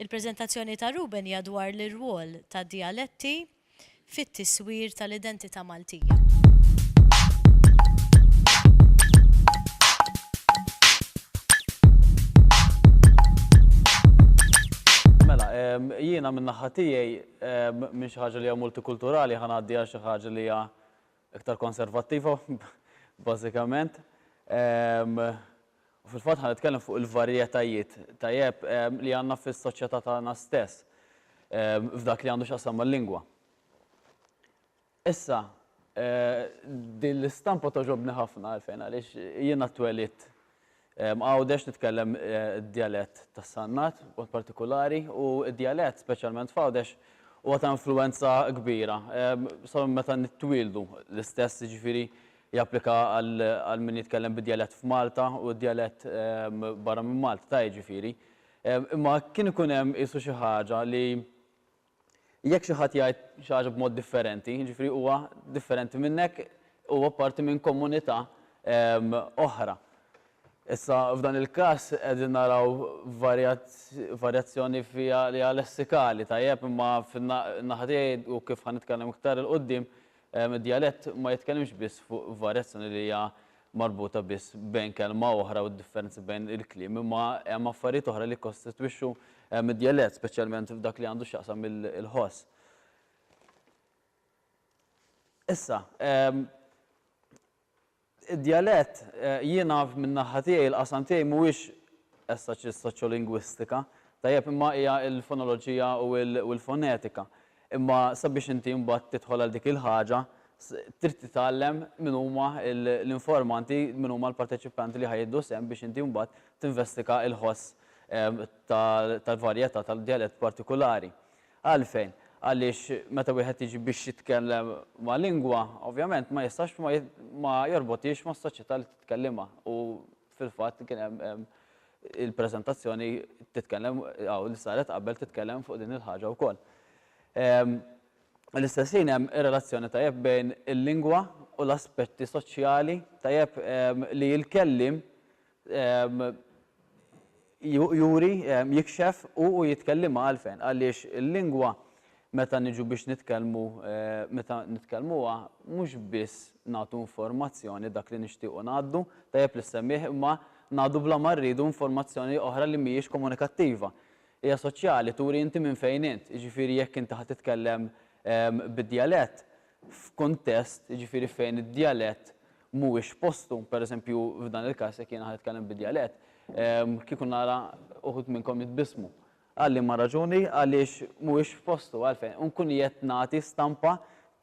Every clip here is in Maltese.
il-prezentazzjoni ta' Ruben hija dwar l-irwol ta' dialetti fit-tiswir tal-identità Maltija. Mela, jiena min-naħa tiegħi minn xi ħaġa li hija multikulturali ħa ngħaddi għal xi ħaġa li hija iktar konservattiva bażikament. U fil-fatt ħa nitkellem fuq il-varjetajiet tajjeb li għandna fis-soċjetà tagħna stess f'dak li għandu x'jaqsam mal-lingwa. Issa, din l-istampa togħġobni ħafna għalfejn għaliex jiena twelidt Għawdex titkellem d-djalett tas-Sannat b'mod partikulari u d-djalett, speċjalment f'Għawdex, huwa ta' influwenza kbira sa minn meta nitwieldu. L-istess, jiġifieri, japplika għal min jitkellem bid-djalett f'Malta u d-djalett barra minn Malta, jiġifieri. Imma kien ikun hemm qisu xi ħaġa li Jekk xi ħadd jgħid xi ħaġa b'mod differenti, jiġifieri huwa differenti minnek, huwa parti minn komunità oħra. Issa f'dan il-każ qegħdin naraw varjazzjoni fiha li hija lessikali, tajjeb, imma fin-naħa tiegħi u kif ħa nitkellem iktar 'il quddiem, id-djalett ma jitkellimx biss fuq varjazzjoni li hija marbuta biss bejn kelma u oħra u d-differenzi bejn il-kliem, imma hemm affarijiet oħra li jikkostitwixxu d-djalett, speċjalment f'dak li għandu x'jaqsam il-ħoss. Issa, id-djalett, jiena min-naħa tiegħi l-qasam tiegħi mhuwiex as such is-soċjolingwistika, tajjeb, imma hija l-fonoloġija u l-fonetika. Imma sabiex inti mbagħad tidħol għal dik il-ħaġa, trid titgħallem min huma l-informanti, min huma l-parteċipanti li ħa jieħdu sehem biex inti mbagħad tinvestiga l-ħoss tal-varjetà tal-djalett partikulari. Għalfejn? Għaliex meta wieħed jiġi biex jitkellem ma' lingwa, ovvjament ma jistax ma jorbotiex mas-soċjetà li titkellimha u Fil-fatt kien hemm il-preżentazzjoni titkellem hawn li saret qabel titkellem fuq din il-ħaġa wkoll. Fl-istess ħin hemm relazzjoni tajjeb bejn il-lingwa u l-aspetti soċjali tajjeb li l-kelliem juri, jikxef u u jitkellimha għalfejn? Għaliex il-lingwa meta niġu biex nitkellmu meta nitkellmuha mhux biss nagħtu informazzjoni dak li nixtiequ ngħaddu, tajjeb li ssemmih imma ngħaddu bla ma rridu informazzjoni oħra li mhijiex komunikattiva. Hija soċjali, turi inti minn fejn int, jiġifieri jekk inti ħa titkellem bid-djalett f'kuntest jiġifieri fejn id-djalett mhuwiex postu, pereżempju f'dan il-każ jekk jiena ħa nitkellem bid-djalett, kieku nara uħud minnkom jitbissmu. Għal liema raġuni? Għaliex mhuwiex f'postu. Għalfejn? U nkun qiegħed nagħti stampa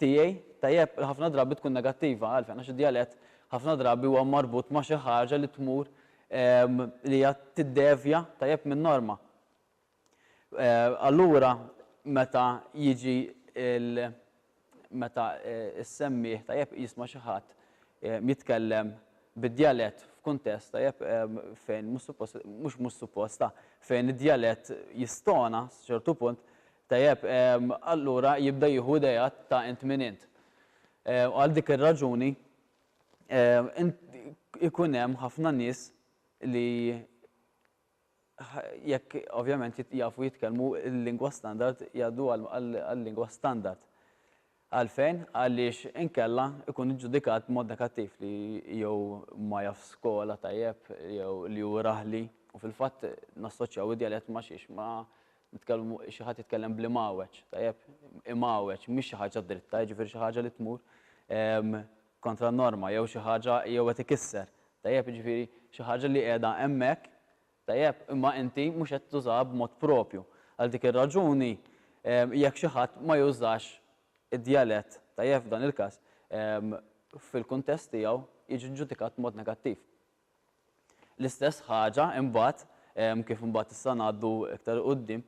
tiegħi, tajjeb, li ħafna drabi tkun negattiva. Għalfejn? Għax id-djalett ħafna drabi huwa marbut ma' xi ħaġa li tmur li hija tiddevja, tajjeb, min-norma. Allura meta jiġi l meta ssemmih tajjeb jisma' xi ħadd jitkellem bid-djalett f'kuntest tajjeb fejn mhux suppost mhux mhux suppost ah fejn id-djalett jistona sa ċertu punt tajjeb allura jibda jieħu ideat ta' int min int. U għal dik ir-raġuni ikun hemm ħafna nies li jekk ovvjament jafu jitkellmu l-lingwa standard, jgħaddu għal-lingwa standard. Għalfejn? Għaliex inkella jkun iġġudikat b'mod negattiv li jew ma jafx skola tajjeb jew li hu raħli u fil-fatt nassoċjaw id-djalett ma' xiex? Ma' nitkellmu xi ħadd jitkellem bl-Imgħawweġ, tajjeb? Imgħawweġ mhix xi ħaġa dritta, jiġifieri xi ħaġa li tmur kontra n-norma jew xi ħaġa jew qed ikisser, tajjeb, jiġifieri xi ħaġa li qiegħda hemmhekk, tajjeb, imma inti mhux qed tużaha b'mod proprju. Għal dik ir-raġuni jekk xi ħadd ma jużax id-djalett, tajjeb, f'dan il-każ, fil-kuntest tiegħu jiġi ġġudikat b'mod negattiv. L-istess ħaġa imbagħad, kif imbagħad issa ngħaddu iktar 'il quddiem,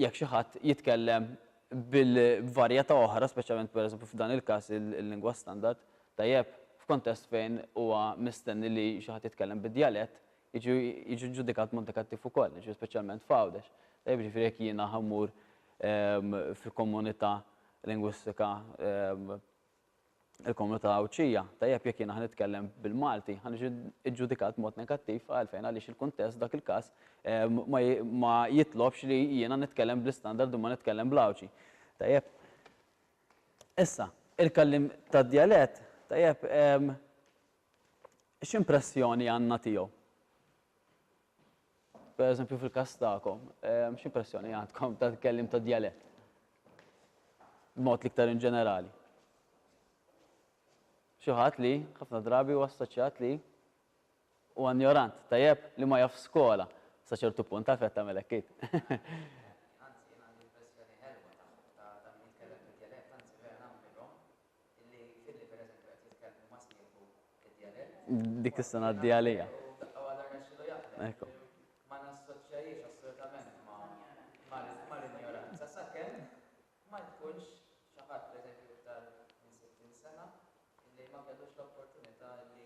jekk xi ħadd jitkellem b'varjetà oħra, speċjalment pereżempju f'dan il-każ il-lingwa standard, tajjeb, f'kuntest fejn huwa mistenni li xi ħadd jitkellem bid-djalett, jiġi ġġudikat b'mod negattiv ukoll, jiġifieri speċjalment f'Għawdex. Tajjeb, jiġifieri jekk jiena immur fil-komunità lingwistika il-komunità Għawdxija. Tajjeb jekk jiena ħa nitkellem bil-Malti, ħa niġi ġġudikat b'mod negattiv għalfejn għaliex il-kuntest dak il-każ ma jitlobx li jiena nitkellem bl-istandard u ma nitkellem bl-Għawdxi. Tajjeb. Issa, il-kelliem tad-djalett, tajjeb, x'impressjoni għandna tiegħu? Per eżempju fil-każ tagħkom, ehm, x'impressjoni għandkom ta' kellim ta' djalett? B'mod liktar in ġenerali. Xi ħadd li ħafna drabi huwa assoċjat li huwa ignorant, tajjeb li ma jaf skola sa ċertu punt taf qed tagħmel hekk dik is-sena għaddi għalija. Ekku. Ma nassoċjajiex assolutament ma l-ignoranza, sa' kem ma jkunx xaħat, per eżempju, iktar minn 60 sena, li ma kellux l-opportunità li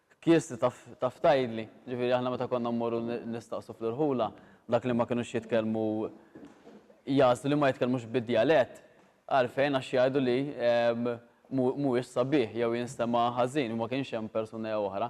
Kieżti taf tgħidli? Ġifieri aħna meta konna mmorru nistaqsu fl-irħula, dak li ma kinux jitkellmu jagħżlu li ma jitkellmux bid-djalett. Għalfejn? Għax jgħidu li mhuwiex sabiħ jew jinstema' ħażin u ma kienx hemm persuna jew oħra.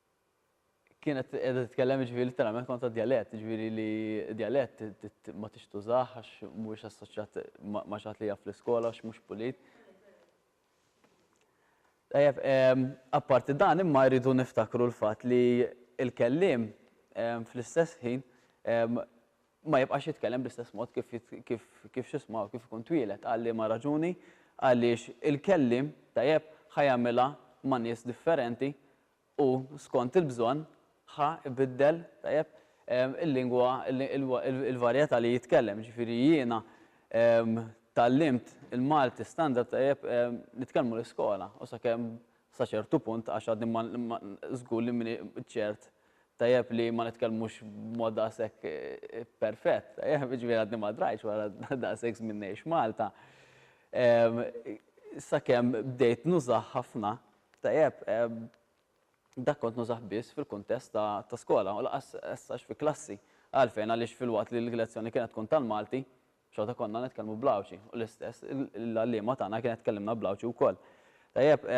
kienet edha titkellem ġviri literalment kont ta' dialett, ġviri li dialett ma tix tużax għax mhuwiex assoċjat ma xaħat li jaf l-iskola għax mhux pulit. Tajjeb, ehm, apparti dan imma jridu niftakru l-fatt li il-kellim ehm, fl-istess ħin ehm, ma jibqax jitkellem bl-istess mod kif kif kif xisma kif ikun twielet għalli ma raġuni għaliex il-kellim tajjeb ħajamilha ma' nies differenti u, skont il-bżonn, ħa ibiddel, tajjeb, il-lingwa, il-varjetà li jitkellem. Jiġifieri jiena tgħallimt il-Malti standard tajjeb nitkellmu l-iskola u sakemm sa ċertu punt għax għadni ma żgur li m'iniex ċert tajjeb li ma nitkellmux b'mod daqshekk perfett, tajjeb, jiġifieri għadni ma drajtx wara daqshekk żmien ngħix Malta sakemm bdejt nużah ħafna. Tajjeb, dak kont nużah biss fil-kuntest ta' skola u lanqas essax fi klassi. Għalfejn? Għaliex filwaqt li l-lezzjoni kienet tkun tal-Malti, xorta konna nitkellmu bl-Għawdxi u l-istess l-għalliema tagħna kienet tkellimna bl-Għawdxi wkoll. Tajjeb,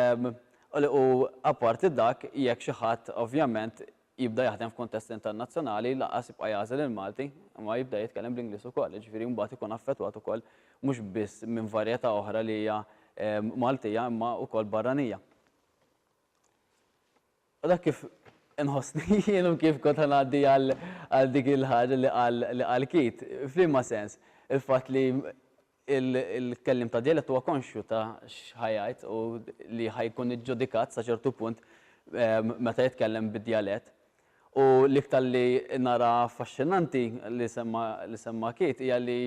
u apparti dak, jekk xi ħadd ovvjament jibda jaħdem f'kuntest internazzjonali lanqas jibqa' jagħżel il-Malti imma jibda jitkellem bl-Ingliż ukoll, jiġifieri mbagħad ikun affettwat ukoll mhux biss minn varjetà oħra li hija Maltija imma ukoll barranija. U dak kif inħossni jien u kif kont ħa ngħaddi għal dik il-ħaġa li qal Keith, f'liema sens il-fatt li Il-kelliem ta' djalett huwa konxju ta' x'ħa jgħid u li ħa jkun iġġudikat sa ċertu punt meta jitkellem bid-djalett. U l-iktar li nara affaxxinanti li semma li semma Keith hija li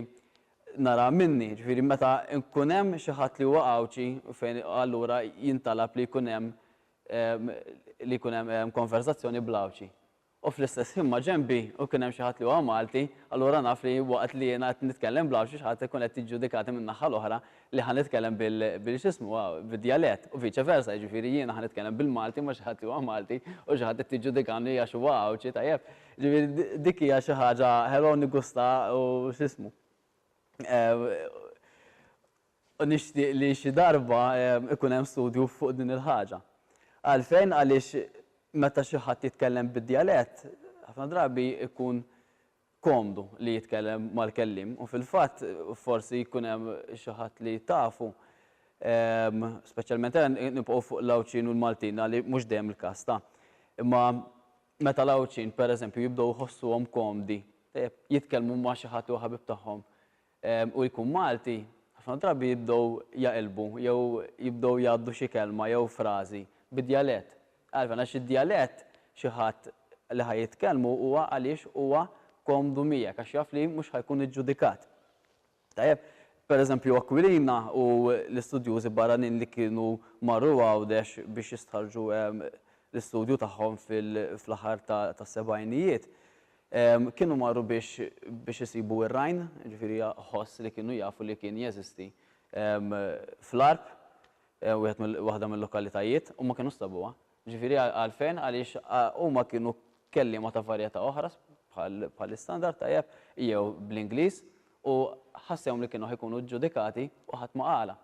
nara minni, jiġifieri meta jkun hemm xi ħadd li huwa Għawdxi fejn allura jintalab li jkun hemm li jkun hemm konverżazzjoni bl-Għawdxi. u fl-istess ħin maġenbi u kien hemm xi ħadd li huwa Malti, allura naf li waqt li jiena qed nitkellem bl-Għawdxi xi ħadd ikun qed jiġġudikatni min-naħħa l-oħra li ħa nitkellem bil, bil x'ismu, bid-djalett, u vice versa, jiġifieri jiena ħa nitkellem bil-Malti ma' xi ħadd li huwa Malti u xi ħadd qed jiġġudikani għax huwa Għawdxi, tajjeb? Jiġifieri dik hija xi ħaġa hello nigusta u x'ismu. U nixtieq li xi darba jkun hemm studju fuq din il-ħaġa. Għalfejn? Għaliex meta xi ħadd jitkellem bid-djalett, ħafna drabi jkun komdu li jitkellem mal-kelliem. U fil-fatt, forsi jkun hemm xi ħadd li tafu, speċjalment ejja nibqgħu fuq l-Għawdxin u l-Maltin għaliex mhux dejjem il-każ ta'. Imma meta l-Għawdxin, pereżempju, jibdew iħossuhom komdi jitkellmu ma' xi ħadd li huwa ħabib tagħhom, u jkun Malti, ħafna drabi jibdew jaqilbu jew jibdew jgħaddu xi kelma jew frażi bid-djalett. Għalfejn? Għax id-djalett xi ħadd li ħa jitkellmu huwa għaliex huwa komdu miegħek għax jaf li mhux ħa jkun iġġudikat. Tajjeb, pereżempju Aquilina u l-istudjużi barranin li kienu marru Għawdex biex jistħarrġu l-istudju tagħhom fil-aħħar tas-sebgħinijiet, Kienu marru biex biex isibu r-rajn, jiġifieri ħoss li kienu jafu li kien jeżisti fl-għarb, wieħed mill waħda mil-lokalitajiet, u ma kinux sabuha. Jiġifieri għalfejn? Għaliex huma kienu kelliema ta' varjetà oħra bħal bħall-istandard, tajjeb, jew bl-Ingliż, u ħassewhom li kienu ħa jkunu ġġudikati u ħadd ma qala.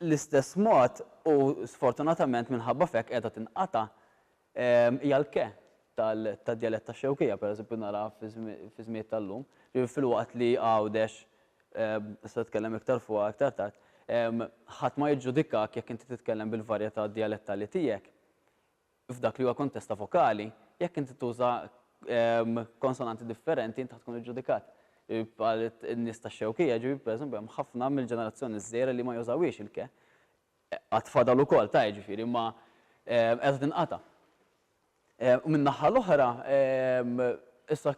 L-istess mod, u sfortunatament minħabba f'hekk qiegħda tinqata', Hija l-ke tad-djalett tax-Xewkija, pereżempju, naraha fiż-żmied tal-lum. Ġifieri filwaqt li Għawdex, nista' nitkellem iktar fuqha iktar tard, ħadd ma jiġġudikak jekk inti titkellem bil-varjetà djalettali tiegħek f'dak li huwa kontest ta' vokali, jekk inti tuża konsonanti differenti inti ħa tkun iġġudikat. Bħal in-nies tax-Xewkija, ġifieri pereżempju hemm ħafna mill-ġenerazzjoni ż-żgħira li ma jużawhiex il-ke. Għad fadal ukoll ta' jiġifieri imma qiegħda tinqata'. U min-naħa l-oħra, issa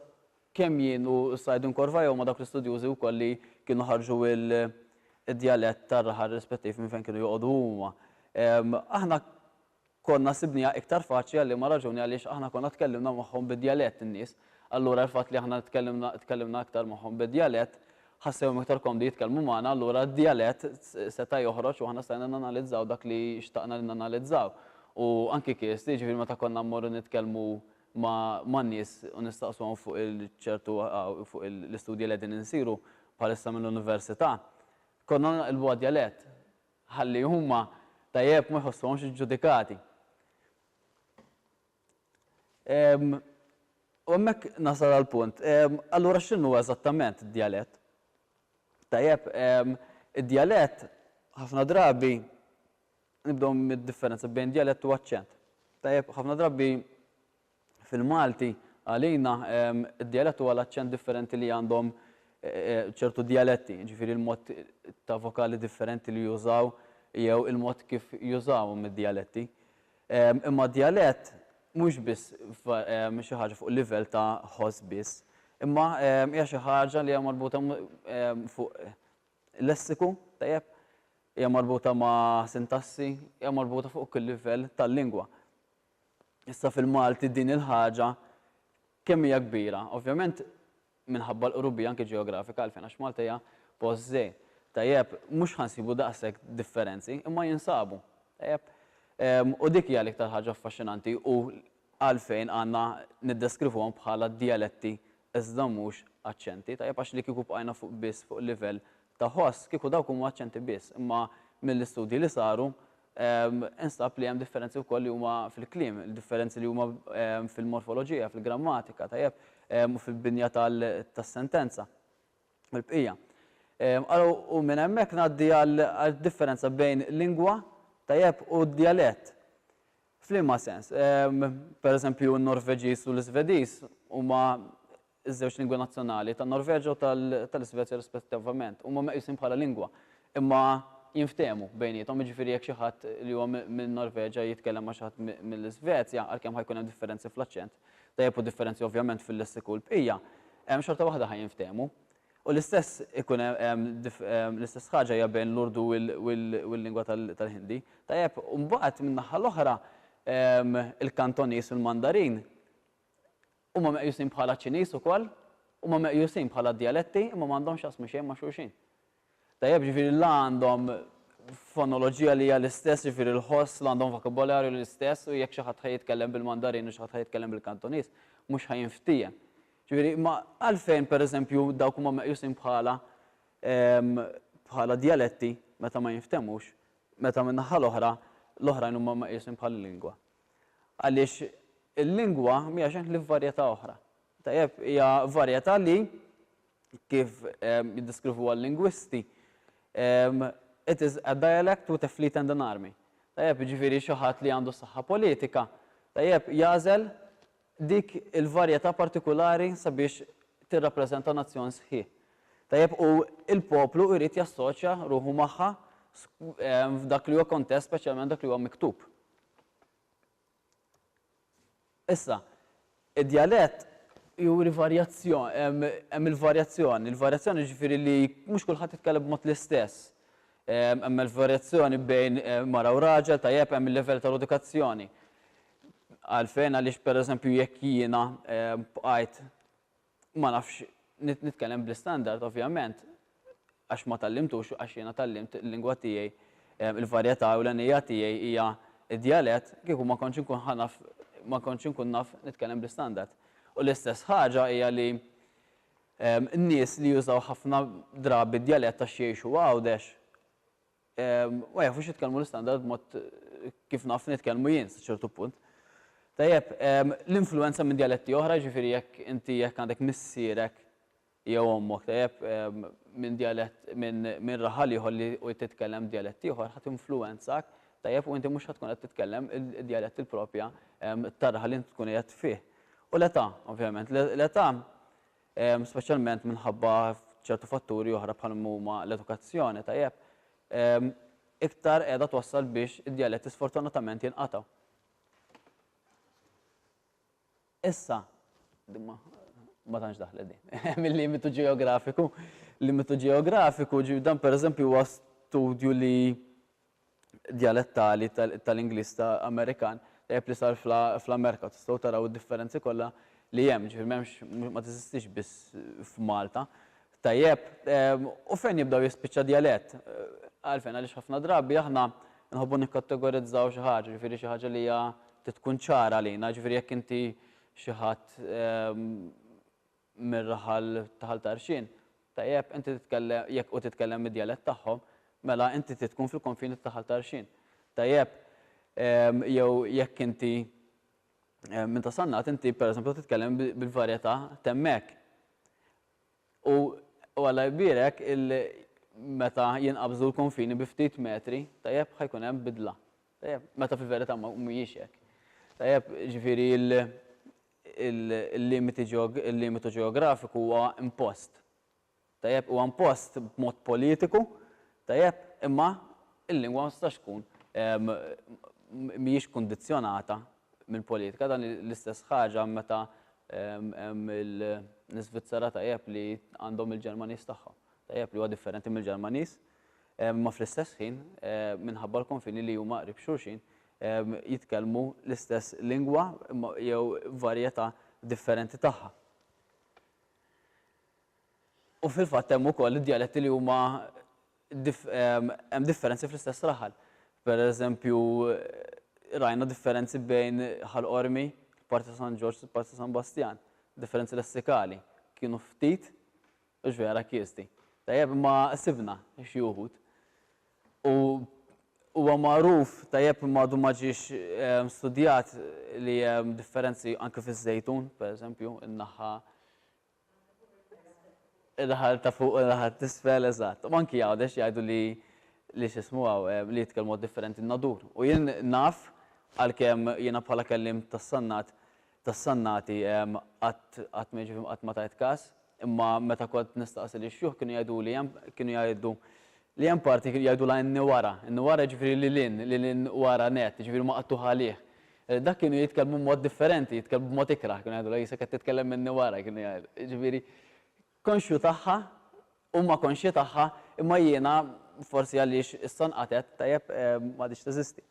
kemm jien u issa qegħdin korva jew ma' dawk l-istudjużi wkoll li kienu ħarġu d-djalett tar-raħal rispettiv minn fejn kienu joqogħdu huma. Aħna konna sibnieha iktar faċli għal liema raġuni għaliex aħna konna tkellimna magħhom bid-djalett in-nies, allura l-fatt li aħna tkellimna tkellimna iktar magħhom bid-djalett ħassewhom iktar komdi jitkellmu magħna allura d-djalett seta' joħroġ u aħna stajna nanalizzaw dak li xtaqna li nanalizzaw u anki kif jiġifieri meta konna mmorru nitkellmu ma' man-nies u nistaqsuhom fuq il ċertu fuq il l-istudji li qegħdin insiru bħalissa mill-università konna nqlbuha djalett ħalli huma tajjeb ma jħossuhomx iġġudikati. U hemmhekk nasal għall-punt. Allura x'inhu eżattament id-djalett? Tajjeb, id-djalett ħafna drabi nibdew mid-differenza bejn djalett u aċċent. Tajjeb, ħafna drabi fil-Malti, għalina, id-djalett huwa l-aċċent differenti li għandhom ċertu djaletti, jiġifieri l-mod ta' vokali differenti li jużaw jew il-mod kif jużawhom id-djaletti. Imma djalett mhux biss xi ħaġa fuq livell ta' ħoss biss, imma hija xi ħaġa li hija marbuta fuq lessiku, tajjeb, hija marbuta ma' sintassi, hija marbuta fuq kull livell tal-lingwa. Issa fil-Malti din il-ħaġa kemm hija kbira? Ovvjament minħabba l-qrubija anke ġeografika għalfejn għax Malta hija post żgħir. Tajjeb, mhux ħa nsibu daqshekk differenzi, imma jinsabu. Tajjeb? U dik hija l-iktar ħaġa affaxxinanti u għalfejn għandna niddeskrivuhom bħala djaletti iżda mhux aċċenti. Tajjeb għax li kieku bqajna fuq biss fuq livell ta' ħoss, kieku dawk huma aċċenti biss, imma mill-istudji li saru Instab li hemm differenzi wkoll li huma fil-kliem, differenzi li huma fil-morfoloġija, fil-grammatika, tajjeb, u fil-binja tas-sentenza u l-bqija. Ara u minn hemmhekk ngħaddi għad-differenza bejn lingwa, tajjeb, u djalett. F'liema sens? Pereżempju n-Norveġiż u l-Iżvediż huma Iż-żewġ lingwi nazzjonali tan-Norveġja u tal-Isvezja rispettivament huma meqjusin bħala lingwa, imma jinftehmu bejniethom, jiġifieri jekk xi ħadd li huwa min-Norveġja jitkellem ma' xi ħadd mill-Isvezja, għalkemm ħa jkun hemm differenzi fl-aċċent, tajjeb u differenzi ovvjament fil-lessiku u l-bqija, xorta waħda ħa jinftehmu. U l-istess ikun hemm l-istess ħaġa hija bejn l-Urdu u l-lingwa tal-Ħindi. Tajjeb, u mbagħad min-naħa l-oħra il-Kantoniż u l-Mandarin Huma meqjusin bħala Ċiniż ukoll, huma meqjusin bħala djaletti imma m'għandhomx x'jaqsmu xejn ma' xulxin. Tajjeb, jiġifieri la għandhom fonoloġija li hija l-istess, jiġifieri l-ħoss, la għandhom vokabolarju li l-istess u jekk xi ħadd ħa jitkellem bil-Mandarin u xi ħadd ħa jitkellem bil-Kantoniż, mhux ħa jinftiehem. Jiġifieri, imma għalfejn pereżempju dawk huma meqjusin bħala bħala djaletti meta ma jinftehmux, meta min-naħa l-oħra l-oħrajn huma meqjusin bħala lingwa? Għaliex il-lingwa mhija xejn ħlief varjetà oħra. Tajjeb, hija varjetà li kif ehm, jiddeskrivuha l-lingwisti, ehm, it is a dialect with a fleet and an army. Tajjeb, jiġifieri xi ħadd li għandu saħħa politika, tajjeb, jagħżel dik il-varjetà partikulari sabiex tirrappreżenta nazzjon sħiħ. Tajjeb, u l-poplu jrid jassoċja ruħu magħha f'dak li huwa kontest, speċjalment dak li huwa miktub. Issa, id-djalett juri varjazzjoni, hemm il-varjazzjoni, il-varjazzjoni jiġifieri li mhux kulħadd jitkellem b'mod l-istess. Hemm il-varjazzjoni bejn mara u raġel, tajjeb, hemm il-livell tal-edukazzjoni. Għalfejn għaliex pereżempju jekk jiena bqajt ma nafx nitkellem bl-istandard ovvjament għax ma tgħallimtux għax jiena tgħallimt il-lingwa tiegħi il-varjetà ewlenija tiegħi hija d-djalett kieku ma kontx inkun ħa naf ma kontx inkun naf nitkellem bl-istandard. U l-istess ħaġa hija li n-nies li jużaw ħafna drabi d-djalett għax jgħixu Għawdex Ma jafux jitkellmu l-istandard b'mod kif naf nitkellmu jien sa ċertu punt. Tajjeb, l-influenza minn djaletti oħra, ġifieri jekk inti jekk għandek missierek jew ommok tajjeb minn djalett minn minn raħal ieħor li u titkellem djalett ieħor ħa tinfluwenzak tajjeb u inti mhux ħa tkun qed titkellem id-djalett il-propja tar-raħal li int tkun qiegħed fih. U l-età, ovvjament, l-età speċjalment minħabba ċertu fatturi oħra bħal ma huma l-edukazzjoni, tajjeb, iktar qiegħda twassal biex id-djaletti sfortunatament jinqatgħu. Issa, dimma, ma tantx daħlet din, mill-limitu ġeografiku, limitu ġeografiku, ġi dan pereżempju huwa studju li djalettali tal-Ingliż ta' Amerikan tajjeb li sar fl-Amerika u tistgħu taraw id-differenzi kollha li hemm, ġifieri m'hemmx ma teżistix biss f'Malta. Tajjeb, u fejn jibda u jispiċċa djalett? Għalfejn? Għaliex ħafna drabi aħna nħobbu nikkategorizzaw xi ħaġa, ġifieri xi ħaġa li hija trid tkun ċara għalina, ġifieri jekk inti xi ħadd mir-raħal ta' Ħal Tarxien, tajjeb, inti titkellem, jekk hu titkellem id-djalett tagħhom, mela inti trid tkun fil-konfini ta' Ħal Tarxien. Tajjeb, jew jekk inti minn ta' Sannat, inti pereżempju ħa titkellem bil-varjetà t'hemmhekk. U Alla jbierek meta jinqabżu l-konfini bi ftit metri, tajjeb, ħa jkun hemm bidla. Tajjeb, meta fil-verità mhijiex hekk. Tajjeb, ġifieri il-limitu ġeografiku huwa impost. Tajjeb, huwa impost b'mod politiku, tajjeb, imma l-lingwa ma tistax tkun mhijiex kundizzjonata mill-politika. Dan l-istess ħaġa meta hemm l-Iżvizzera tajjeb li għandhom il-Ġermaniż tagħhom. Tajjeb li huwa differenti mill-Ġermaniż, imma fl-istess ħin minħabba l-konfini li huma qrib xulxin, jitkellmu l-istess lingwa jew varjetà differenti tagħha. U fil-fatt hemm ukoll id-djaletti li huma hemm differenzi fl-istess raħal. Per eżempju, rajna differenzi bejn Ħal Qormi, parti ta' San Ġorġ, parti ta' San Bastjan. Differenzi lessikali kienu ftit, mhux vera kiesti. Tajjeb, imma sibna xi wħud. U huwa magħruf tajjeb imma għadu ma ġiex studjat li hemm differenzi anke fiż-żejtun, pereżempju, in-naħa in-naħa ta' fuq u n-naħa t'isfel, eżatt. U anki Għawdex jgħidu li li x'ismu hawn li jitkellmu differenti n-nadur. U jien naf għalkemm jiena bħala kelliem tas-Sannat tas-Sannati qatt ma jiġifieri qatt ma tajt każ, imma meta kont nistaqsi lix-xjuħ kienu jgħiduli hemm kienu jgħidu li hemm parti kienu jgħidulha in wara, in wara jiġifieri lil hinn, lil hinn wara nett, jiġifieri maqtugħ għalih. Dak kienu jitkellmu b'mod differenti, jitkellmu b'mod ikrah, kienu jgħidulha jisek qed titkellem minni wara, kienu jgħidu. Jiġifieri konxju tagħha, huma konxji tagħha, imma jiena forsi għaliex issa nqatgħet, tajjeb m'għadhiex teżisti.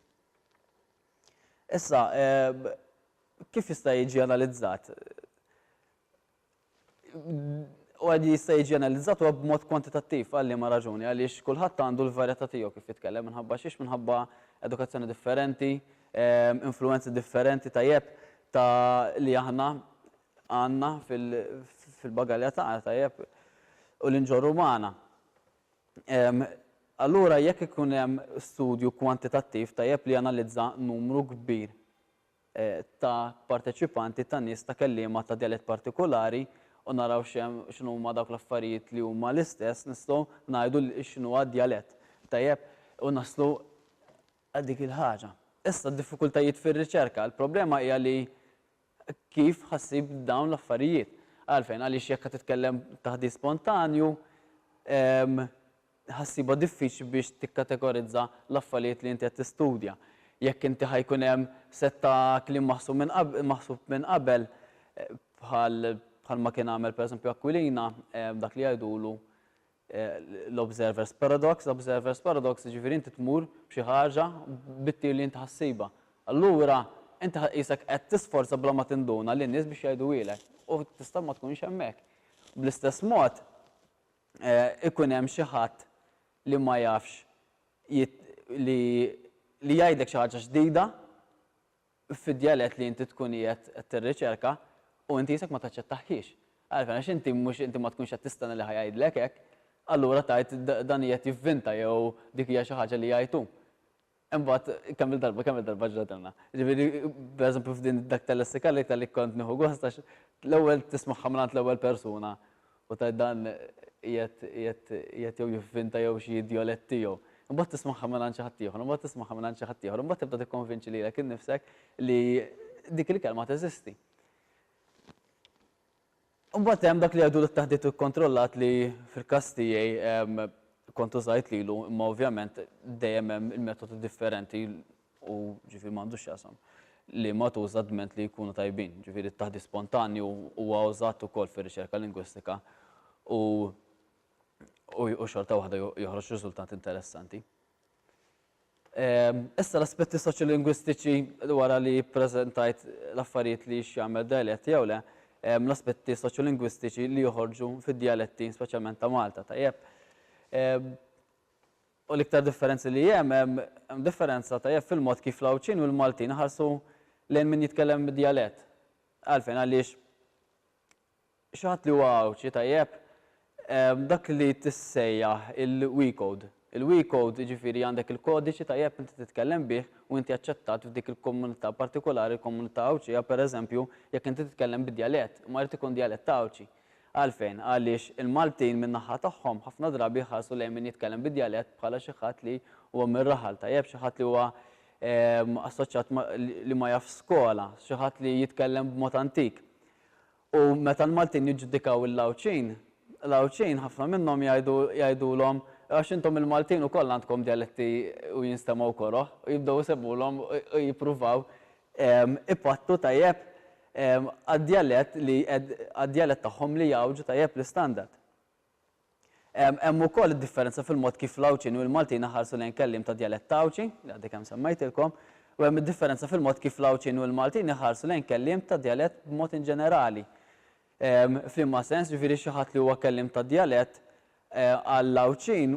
Issa, kif jista' jiġi analizzat? U għad jista' jiġi analizzat huwa b'mod kwantitattiv għal liema raġuni għaliex kulħadd għandu l-varjetà tiegħu kif jitkellem minħabba xiex minħabba edukazzjoni differenti, ehm, influenzi differenti tajjeb ta' li aħna għandna fil-bagalja tagħna tajjeb u l-inġorru magħna. Allura jekk ikun hemm studju kwantitattiv tajjeb li janalizza numru kbir ta' parteċipanti ta' nies ta' kelliema ta' djalett partikulari u naraw x'inhuma dawk l-affarijiet li huma l-istess nistgħu ngħidu x'inhuwa d-djalett tajjeb u naslu għal dik il-ħaġa. Issa d-diffikultajiet fir-riċerka. Il-problema hija li Kif ħa ssib dawn l-affarijiet? Għalfejn? Għaliex jekk ħa titkellem taħdit spontanju, ħa ssibha diffiċli biex tikkategorizza l-affarijiet li inti qed tistudja. Jekk inti ħa jkun hemm sett ta' kliem maħsub minn qabel, bħal ma kien għamel pereżempju Aquilina, dak li jgħidulu, l-observer's paradox, l-observer's paradox jiġifieri inti tmur b'xi ħaġa bit-tir li inti ħa ssibha. Allura inti ħa qisek qed tisforza bla ma tinduna lin-nies biex jgħiduhielek u tista' ma tkunx hemmhekk. Bl-istess mod ikun hemm xi ħadd li ma jafx li jgħidlek xi ħaġa ġdida, fid-djalett li inti tkun qiegħed tirriċerka u inti isek ma taċċettahhiex. Għalfejn? Għax inti mhux inti ma tkunx qed tistenna li ħa jgħidlek hekk, allura tgħid dan qiegħed jivvinta jew dik hija xi ħaġa li jgħid hu. Imbagħad kemm-il darba, kemm-il darba ġratilna. Ġifieri, pereżempju f'din dak tal-lessika li kont nieħu gost għax l-ewwel tismagħha mingħand l-ewwel persuna U tgħid dan qiegħed qiegħed qiegħed jew jivvinta jew xi djolett tiegħu. Imbagħad tismagħha mingħand xi ħadd ieħor, imbagħad tismagħha mingħand xi ħadd ieħor, imbagħad tibda tikkonvinċi lilek innifsek li dik il-kelma teżisti. Imbagħad hemm dak li jgħidu t-taħdit ikkontrollat li fil-każ tiegħi kont użajt lilu, imma ovvjament dejjem hemm il-metodu differenti u ġifieri ma għandux x'jaqsam, li ma tuża dment li jkunu tajbin, ġifieri t-taħdit spontanju huwa użat ukoll fir-riċerka lingwistika u u xorta waħda joħroġ riżultat interessanti. Issa l-aspetti soċjolingwistiċi wara li ppreżentajt l-affarijiet li x'jagħmel dialett jew le, l-aspetti soċjolingwistiċi li joħorġu fid-dialetti speċjalment ta' Malta tajjeb. U l-iktar differenzi li hemm, hemm differenza tajjeb fil-mod kif l-Għawdxin u l-Maltin iħarsu lejn min jitkellem bid-djalett. Għalfejn? Għaliex xi ħadd li huwa Għawdxi tajjeb, dak li tissejjaħ il-we code. Il-we code jiġifieri għandek il-kodiċi tajjeb inti titkellem bih u inti aċċettat f'dik il-komunità partikolari, l-komunità Għawdxija pereżempju, jekk inti titkellem bid-djalett, imma jrid ikun djalett Għawdxi. Għalfejn? Għaliex il-Maltin min-naħa tagħhom ħafna drabi jħarsu lejn min jitkellem bid-djalett bħala xi ħadd li huwa mir-raħal tajjeb, xi ħadd li huwa assoċjat ma' li ma jafx skola, xi ħadd li jitkellem b'mod antik. U meta l-Maltin jiġġudikaw il-Għawdxin, l-Għawdxin ħafna minnhom jgħidu jgħidulhom għax intom il-Maltin ukoll għandkom djaletti u jinstemgħu koroh u jibdew isemmulhom u jippruvaw ipattu tajjeb għad-djalett li għad-djalett tagħhom li jgħawġu tajjeb l-istandard. Hemm ukoll id-differenza fil-mod kif l-Għawdxin u l-Maltin iħarsu lejn kelliem ta' djalett Għawdxi, li għaddi kemm semmejtilkom, u hemm id-differenza fil-mod kif l-Għawdxin u l-Maltin iħarsu lejn kelliem ta' djalett b'mod inġenerali. F'liema sens, ġifieri xi ħadd li huwa kelliem ta' djalett għall-Għawdxin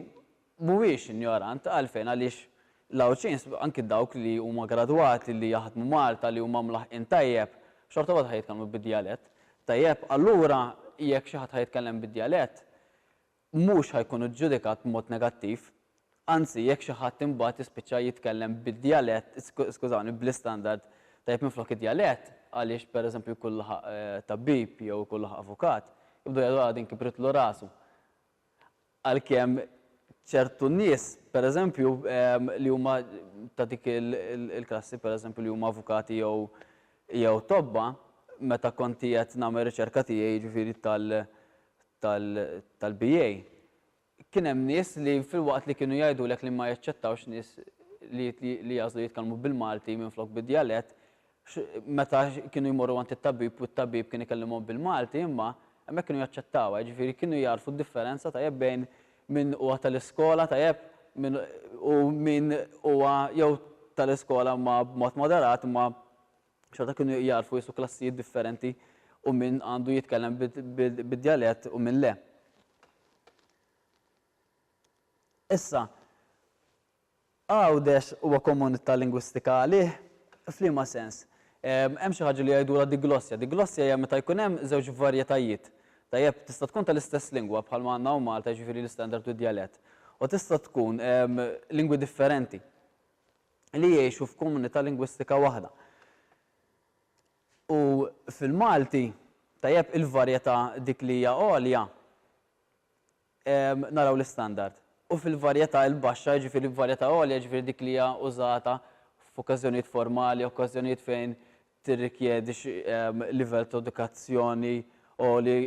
mhuwiex injorant. Għalfejn? Għaliex l-Għawdxin, anki dawk li huma gradwati li jaħdmu Malta, li huma mlaħqin tajjeb, xorta waħda ħa jitkellmu bid-djalett. Tajjeb, allura jekk xi ħadd ħa jitkellem bid-djalett, mhux ħa jkun iġġudikat b'mod negattiv. Anzi, jekk xi ħadd imbagħad jispiċċa jitkellem bid-djalett, skużawni, bl-istandard tajjeb minflok id-djalett, għaliex pereżempju jkun laħaq tabib jew ikun laħaq avukat, jibdew jgħidu ara din kibritlu rasu. Għalkemm ċertu nies, pereżempju, li huma ta' dik il-klassi, pereżempju, li huma avukati jew tobba, meta kont qiegħed nagħmel riċerka tiegħi, jiġifieri tal-BA, kien hemm nies li filwaqt li kienu jgħidulek li ma jaċċettawx nies li jagħżlu jitkellmu bil-Malti minflok bid-djalett, meta kienu jmorru għand it-tabib u t-tabib kien ikellimhom bil-Malti imma hemmhekk kienu jaċċettawha, jiġifieri kienu jagħrfu d-differenza tajjeb bejn min huwa tal-iskola tajjeb min u min huwa jew tal-iskola imma b'mod moderat imma xorta kienu jagħrfu qisu klassijiet differenti u min għandu jitkellem bid-djalett u min le. Issa, Għawdex huwa komunità lingwistika għalih? F'liema sens? Hemm xi ħaġa li jgħidulha diglossja. Diglossja hija meta jkun hemm żewġ varjetajiet. Tajjeb, tista' tkun tal-istess lingwa, bħalma għandna hawn Malta, jiġifieri l-istandard u d-djalett, u tista' tkun lingwi differenti li jgħixu f'komunità lingwistika waħda. U fil-Malti, tajjeb, il-varjetà dik li hija għolja. naraw l-istandard. U fil-varjetà l-baxxa, jiġifieri f'varjetà għolja, jiġifieri dik li hija użata f'okkażjonijiet formali, okkażjonijiet fejn tirrikjedi xi livell ta' edukazzjoni għoli,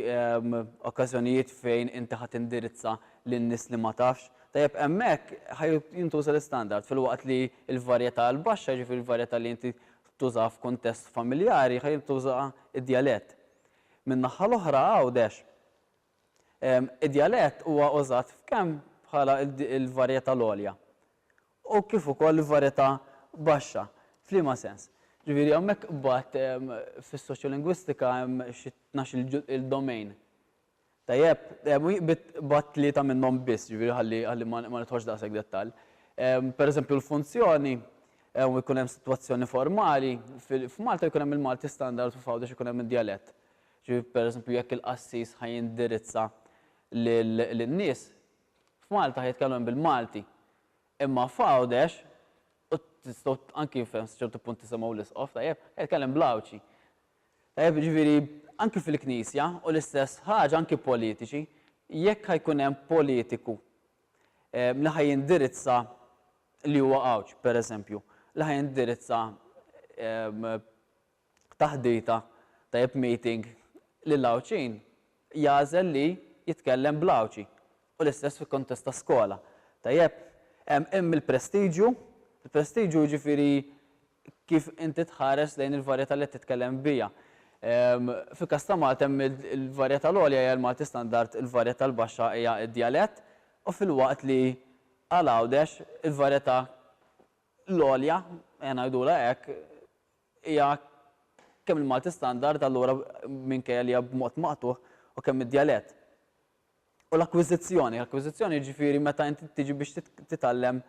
okkażjonijiet fejn inti ħa tindirizza lil nies li ma tafx, tajjeb hemmhekk ħa jintuża l-istandard, filwaqt li l-varjetà l-baxxa, jiġifieri l-varjetà li inti tużaha f'kuntest familjari, ħa jintuża d-djalett. Min-naħa l-oħra Għawdex, Id-djalett huwa użat kemm bħala l-varjetà l-għolja u kif ukoll il-varjetà baxxa. F'liema sens? Ġifieri hawnhekk imbagħad fis-soċjolingwistika hemm xi tnax il domain. Tajjeb? B'għadd tlieta minnhom biss, ġifieri ħalli ħalli ma ma nidħolx daqshekk dettall. Pereżempju l-funzjoni u jkun hemm sitwazzjoni formali, f'Malta jkun hemm il-Malti standard u f'Għawdex ikun hemm id-djalett. Ġifieri pereżempju jekk il-qassis ħa jindirizza lin-nies f'Malta ħa jitkellem bil-Malti. Imma f'Għawdex, u tistgħu anki f'hemm ċertu punt tisimgħu l-Isqof, tajjeb, ħa jitkellem bl-Għawdxi. Tajjeb, jiġifieri anki fil-Knisja u l-istess ħaġa anki politiċi, jekk ħa jkun hemm politiku li ħa jindirizza li huwa Għawdxi pereżempju, li ħa jindirizza taħdita tajjeb meeting lil Għawdxin jagħżel li jitkellem bl Għawdxi u l-istess fi kuntest ta' skola tajjeb hemm hemm il-prestiġju il-prestiġju jiġifieri kif inti tħares lejn il-varjetà li qed titkellem biha ehm fil-każ ta' Malta hemm il-varjetà l-għolja hija l-Malti standard il-varjetà l-baxxa hija d-djalett u filwaqt li għal Għawdex il-varjetà l-għolja ejja ngħidulha hekk hija kemm il-Malti standard allura minkejja li hija b'mod maqtugħ u kemm id-djalett. U l-akkwiżizzjoni, l-akkwiżizzjoni jiġifieri meta inti tiġi biex titgħallem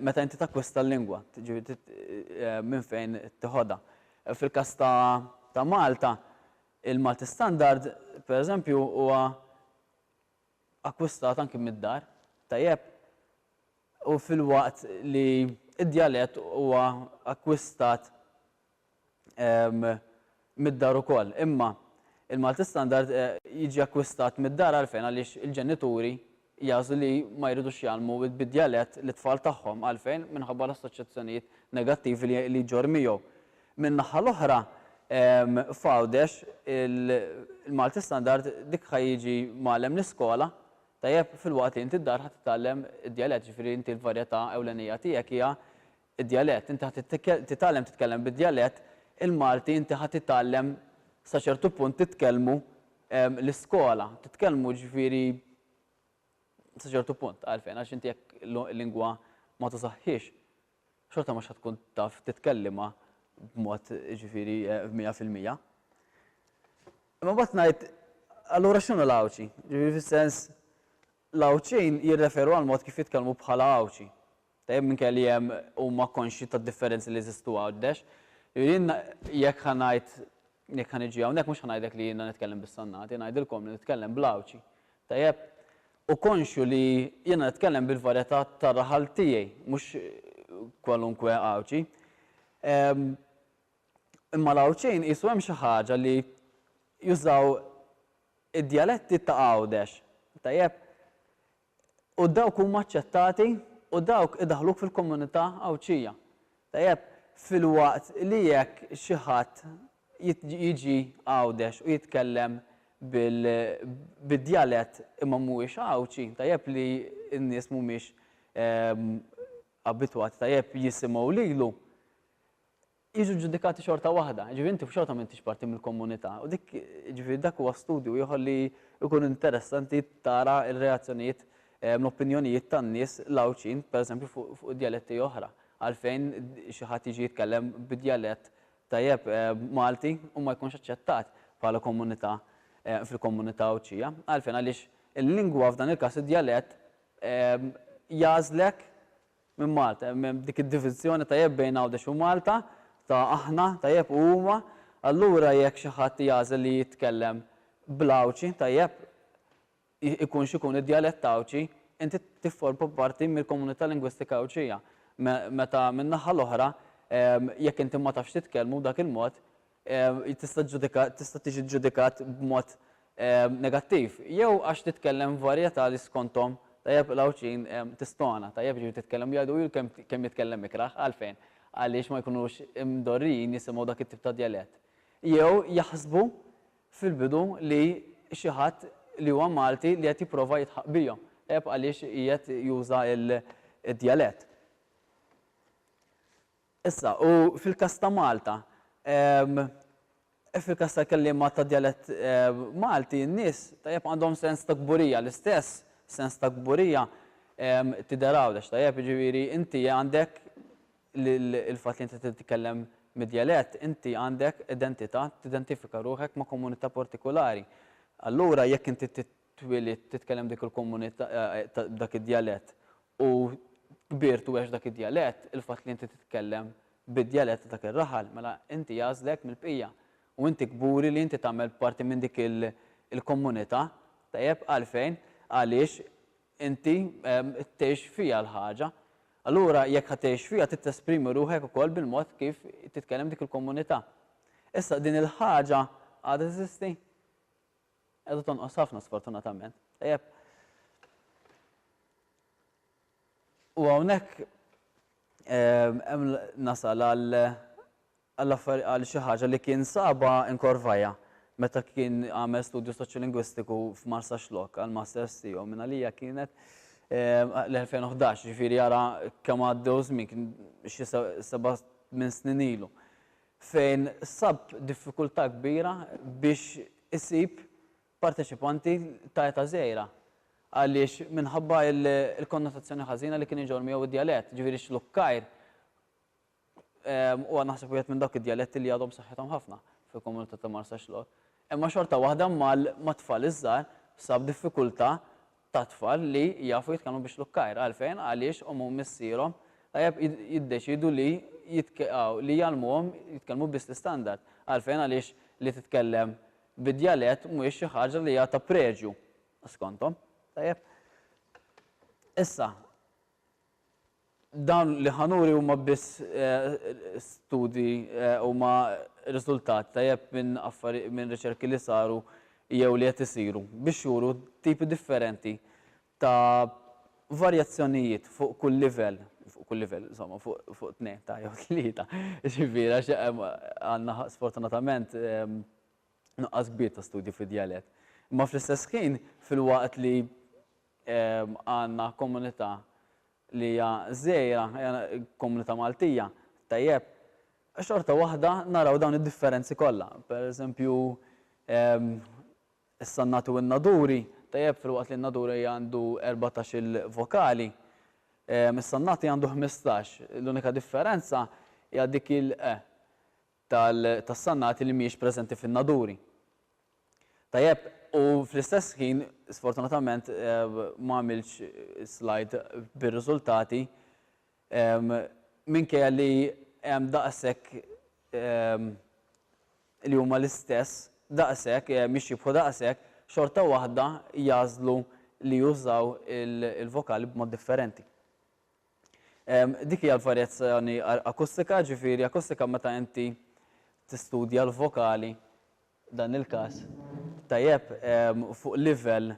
meta inti takkwista l-lingwa, jiġifieri minn fejn tiħodha. Fil-każ ta' ta' Malta, il-Malti standard, pereżempju, huwa akkwistat anki mid-dar tajjeb u filwaqt li d-djalett huwa akkwistat mid-dar ukoll. Imma il-Malti Standard jiġi akkwistat mid-dar għalfejn? Għaliex il-ġenituri jagħżlu li ma jridux jgħallmu bid-djalett lit-tfal tagħhom. Għalfejn? Minħabba l-assoċjazzjonijiet negattivi li jġorr miegħu. Min-naħa l-oħra, f'Għawdex, il-Malti Standard dik ħa jiġi mgħallem l-iskola, tajjeb, filwaqt li inti d-dar ħa titgħallem id-djalett, jiġifieri inti l-varjetà ewlenija tiegħek hija d-djalett. Inti ħa titgħallem titkellem bid-djalett, il-Malti inti ħa titgħallem sa ċertu punt titkellmu l-iskola, titkellmu jiġifieri sa ċertu punt, għalfejn? Għax inti jekk lingwa ma tużahhiex, xorta mhux ħa tkun taf titkellimha b'mod ġifieri mija fil-mija. Imma mbagħad ngħid allura x'inhu l-Għawdxi? Ġifieri fis-sens l-Għawdxin jirreferu għal mod kif jitkellmu bħala Għawdxi. Tajjeb minkejja li hemm huma konxji tad-differenzi li jeżistu Għawdex. Jiena jekk ħa ngħid Jekk ħa niġi hawnhekk mhux ħa ngħidlek li jiena nitkellem bis-sannati, ngħidilkom li nitkellem bl-Għawdxi. Tajjeb? U konxju li jiena nitkellem bil-varjetà tar-raħal tiegħi, mhux kwalunkwe Għawdxi. Imma l-Għawdxin qisu hemm xi ħaġa li jużaw id-djaletti ta' Għawdex. Tajjeb? U dawk huma aċċettati u dawk idaħħluk fil-komunità Għawdxija. Tajjeb, filwaqt li jekk xi ħadd jiġi Għawdex u jitkellem bid-djalett imma mhuwiex Għawdxi, tajjeb li n-nies mhumiex abitwati, tajjeb jisimgħu lilu. jiġu ġġudikati xorta waħda. Jiġifieri inti xorta m'intix parti mill-komunità u dik jiġifieri dak huwa studju ieħor li jkun interessanti tara r-reazzjonijiet, l-opinjonijiet tan-nies l-Għawdxin, pereżempju fuq id-djaletti oħra. Għalfejn xi ħadd jiġi jitkellem bi djalett tajjeb Malti u ma jkunx aċċettat bħala komunità fil-komunità Għawdxija? Għalfejn? Għaliex il-lingwa, f'dan il-każ id-djalett, jagħżlek minn Malta, hemm dik id-diviżjoni tajjeb bejn Għawdex u Malta ta' aħna tajjeb u huma, allura jekk xi ħadd jagħżel li jitkellem bl-Għawdxi tajjeb ikun x'ikun id-djalett Għawdxi, inti tifforma parti mill-komunità lingwistika Għawdxija, meta min-naħa l-oħra jekk inti ma tafx titkellmu b'dak il-mod tista' tiġi ġġudikat b'mod negattiv, jew għax titkellem varjetà li skonthom tajjeb il-Għawdxin tistona, tajjeb jiġifieri titkellem jgħidu hu kemm jitkellem ikrah, għalfejn? Għaliex ma jkunux mdorrijin jisimgħu dak it-tip ta' djalett. Jew jaħsbu fil-bidu li xi ħadd li huwa Malti li qed jipprova jidħaq bihom, tajjeb għaliex qiegħed juża d-djalett. Issa, u fil-każ ta' Malta, fil-każ tal-kelliema tad-djalett Malti, n-nies, tajjeb, għandhom sens ta' kburija, l-istess sens ta' kburija tidher Għawdex, tajjeb, jiġifieri inti għandek l-fatt li inti titkellem mid-djalett, inti għandek identità, tidentifika ruħek ma' komunità partikulari. Allura jekk inti twielidt titkellem dik il-komunità, dak id-djalett u kbirt u għext dak id-djalett, il-fatt li inti titkellem bid-djalett ta' dak ir-raħal, mela inti jagħżlek mill-bqija u inti kburi li inti tagħmel parti minn dik il-komunità. Tajjeb? Għalfejn? Għaliex inti tgħix fiha l-ħaġa. Allura jekk ħa tgħix fiha trid tesprimi ruħek ukoll bil-mod kif titkellem dik il-komunità. Issa din il-ħaġa għadha teżisti? Qiegħda tonqos ħafna sfortunatament. Tajjeb. U hawnhekk hemm nasal għal għal xi ħaġa li kien saba in Corvaja meta kien għamel studju soċjolingwistiku f'Marsa Xlok għal masters tiegħu minn għalija kienet l-2011 ġifieri jara kemm għaddew żmien kien xi seba' minn snin ilu. fejn sab diffikultà kbira biex isib parteċipanti ta' età żgħira għaliex minħabba l-konnotazzjoni ħażina li kien iġorr miegħu d-djalett, ġifieri x-Xlukkajr huwa naħseb wieħed minn dawk id-djaletti li għadhom b'saħħithom ħafna fil-komunità ta' Marsaxlokk. Imma xorta waħda ma' tfal iż-żgħar sab diffikultà ta' tfal li jafu jitkellmu biex lukkajr. Għalfejn? Għaliex omm u missierhom tajjeb jiddeċiedu li li jgħallmuhom jitkellmu biss l-istandard. Għalfejn? Għaliex li titkellem bi djalett mhijiex xi ħaġa li hija ta' preġju skonthom. Tajjeb? Issa, Dawn li ħa nuri huma biss studji, huma riżultat ta' jep minn affarijiet, minn riċerki li saru jew li qed isiru biex juru tipi differenti ta' varjazzjonijiet fuq kull livell, fuq kull livell, insomma, fuq tnejn ta' jew tlieta, jiġifieri għax għandna sfortunatament nuqqas kbir ta' studji fid-djalett. Imma fl-istess ħin, filwaqt li Għandna komunità li hija żgħira, komunità Maltija, tajjeb, xorta waħda naraw dawn id-differenzi kollha. Per eżempju, issa n-natu n-naduri, tajjeb, filwaqt li n-naduri għandu erbatax-il vokali, issa n-nati għandu ħmistax, l-unika differenza hija dik il-e. tas-sannati li mhijiex preżenti fin-naduri. Tajjeb, u fl-istess ħin, sfortunatament ma għamiltx slide bir-riżultati, minkejja li hemm daqshekk li huma l-istess, daqshekk, jixxiebħu daqshekk, xorta waħda jagħżlu li jużaw il-vokali b'mod differenti. Dik hija l-varjazzjoni akustika, ġifieri akustika meta inti tistudja l-vokali, dan il-każ, tajjeb, fuq livell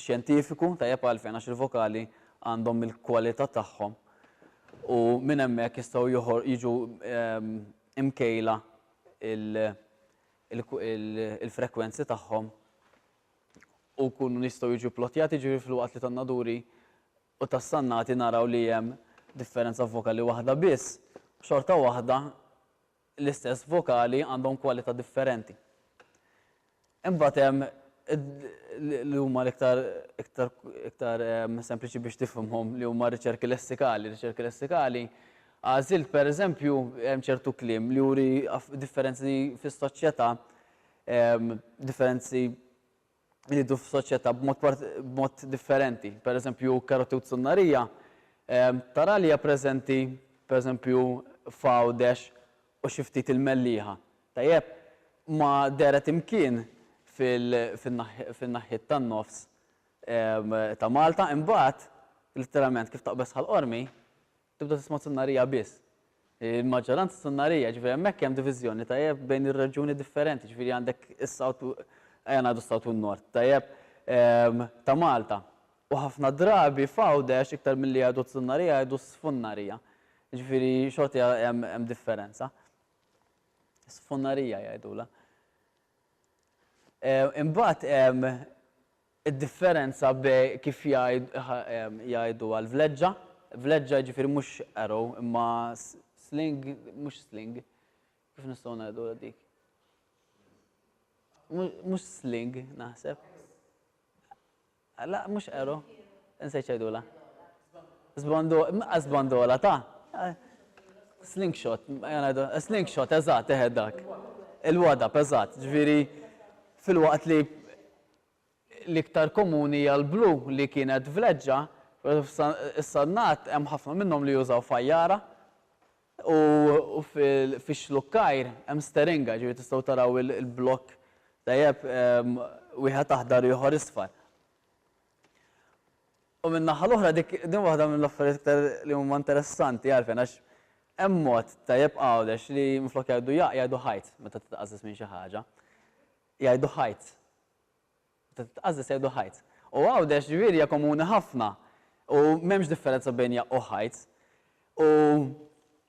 xjentifiku, tajjeb għalfejn għax il-vokali għandhom il-kwalità tagħhom u minn hemmhekk jistgħu jiġu mkejla l-frekwenzi tagħhom u jkunu jistgħu jiġu pplotjati, jiġifieri filwaqt li tan-naduri u tas-sannati naraw li hemm differenza f'vokali waħda biss, xorta waħda l-istess vokali għandhom kwalità differenti. Imbagħad hemm li huma l-iktar iktar iktar sempliċi biex tifhimhom li huma riċerki lessikali. Riċerki lessikali għażilt pereżempju hemm ċertu kliem li juri differenzi fis-soċjetà differenzi li jidhru fis-soċjetà b'mod differenti. Pereżempju, Karotewt Sunnarija tara li hija preżenti, pereżempju, f'Għawdex u xi ftit il-Mellieħa. Tajjeb, ma dehret imkien fin-naħiet tan-nofs ta' Malta. Imbagħad, letteralment, kif taqbeż Ħal Qormi, Tibda tisma' sunnarija biss. Il-maġġoranza sunnarija, jiġifieri hemmhekk hemm diviżjoni, tajjeb, bejn ir-reġjuni differenti, jiġifieri għandek is-South, ejja ngħidu s-South u n-North, tajjeb, ta' Malta. U ħafna drabi f'Għawdex iktar milli jgħidu t-sunnarija jgħidu s-sfunnarija. Jiġifieri xorta hemm differenza. Sfunnarija jgħidulha. Imbagħad hemm Id-differenza be kif jgħidu għal vleġġa, vleġġa jiġifieri mhux arrow imma sling mhux sling kif nistgħu ngħidu għal dik? Mhux sling naħseb. La mhux arrow. Insejt x'għidulha. Sbandola, sbandola ta. Slingshot, slingshot, eżatt, eħe dak. Il-wadab, eżatt, ġifieri fil-waqt li L-iktar komuni hija l-blu li kienet vleġġa, pero issa n-nagħat hemm ħafna minnhom li jużaw fajjara u fix-xlukkajr hemm steringa, ġifieri tistgħu taraw il-blokk tajjeb wieħed aħdar u ieħor isfar. U min-naħa l-oħra dik din waħda mill-affarijiet iktar li huma interessanti għalfejn għax hemm mod tajjeb Għawdex li minflok jgħidu jaqq jgħidu ħajt meta titqażżeż minn xi ħaġa. Jgħidu ħajt. Meta titqażżeż jgħidu ħajt. U Għawdex ġifieri hija komuni ħafna u m'hemmx differenza bejn hija u ħajt. U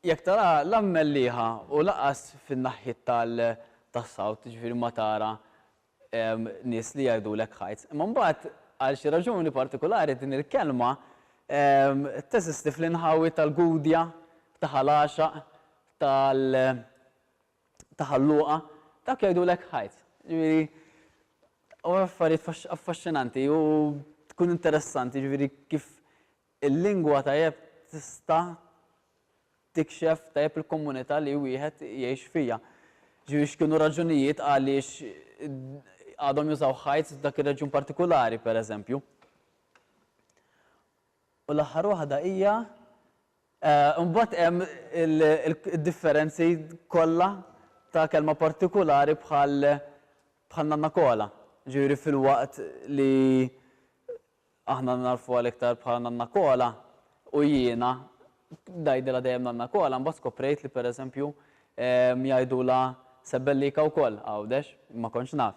jekk taraha la mmellieħa u lanqas fin-naħjiet tal tas-South, jiġifieri ma tara nies li jgħidulek ħajt. Imma mbagħad għal xi raġuni partikulari din il-kelma teżisti fl-inħawi tal-Gudja, ta' Ħal Għaxaq, tal ta' Ħal Luqa, dawk jgħidulek ħajt. Ġifieri, u affarijiet affaxxinanti u tkun interessanti, ġifieri kif il-lingwa tajjeb tista' tikxef tajjeb il-komunità li wieħed jgħix fiha. Ġifieri x'kienu raġunijiet għaliex għadhom jużaw ħajt f'dak ir-reġjun partikulari, pereżempju. U l-aħħar waħda hija, imbagħad hemm id-differenzi kollha ta' kelma partikulari bħal bħal Nanna Kola. Jiġifieri filwaqt li aħna nagħrfuha l-iktar bħala Nanna Kola u jiena ngħidilha dejjem Nanna Kola, imbagħad skoprejt li pereżempju jgħidulha Sebellika wkoll Għawdex, ma kontx naf.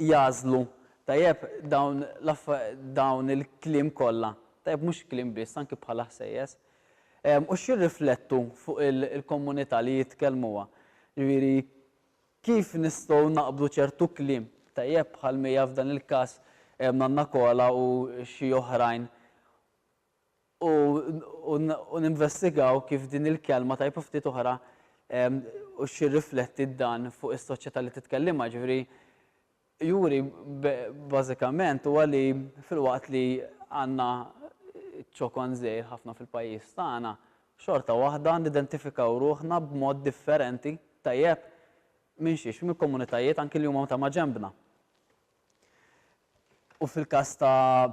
jagħżlu tajjeb dawn dawn il-kliem kollha, tajjeb mhux kliem biss anki bħala ħsejjes, u x'jirriflettu fuq il-komunità li jitkellmuha. Ġifieri kif nistgħu naqbdu ċertu kliem, tajjeb bħal mija f'dan il-każ Nanna Kola u xi oħrajn u ninvestigaw kif din il-kelma tajba ftit oħra u x'jirrifletti dan fuq is-soċjetà li titkellimha, jiġifieri juri bażikament huwa li filwaqt li għandna ċokon żgħir ħafna fil-pajjiż tagħna, xorta waħda nidentifikaw ruħna b'mod differenti tajjeb minn xiex, minn komunitajiet anki li huma ta' maġenbna. U fil-każ ta'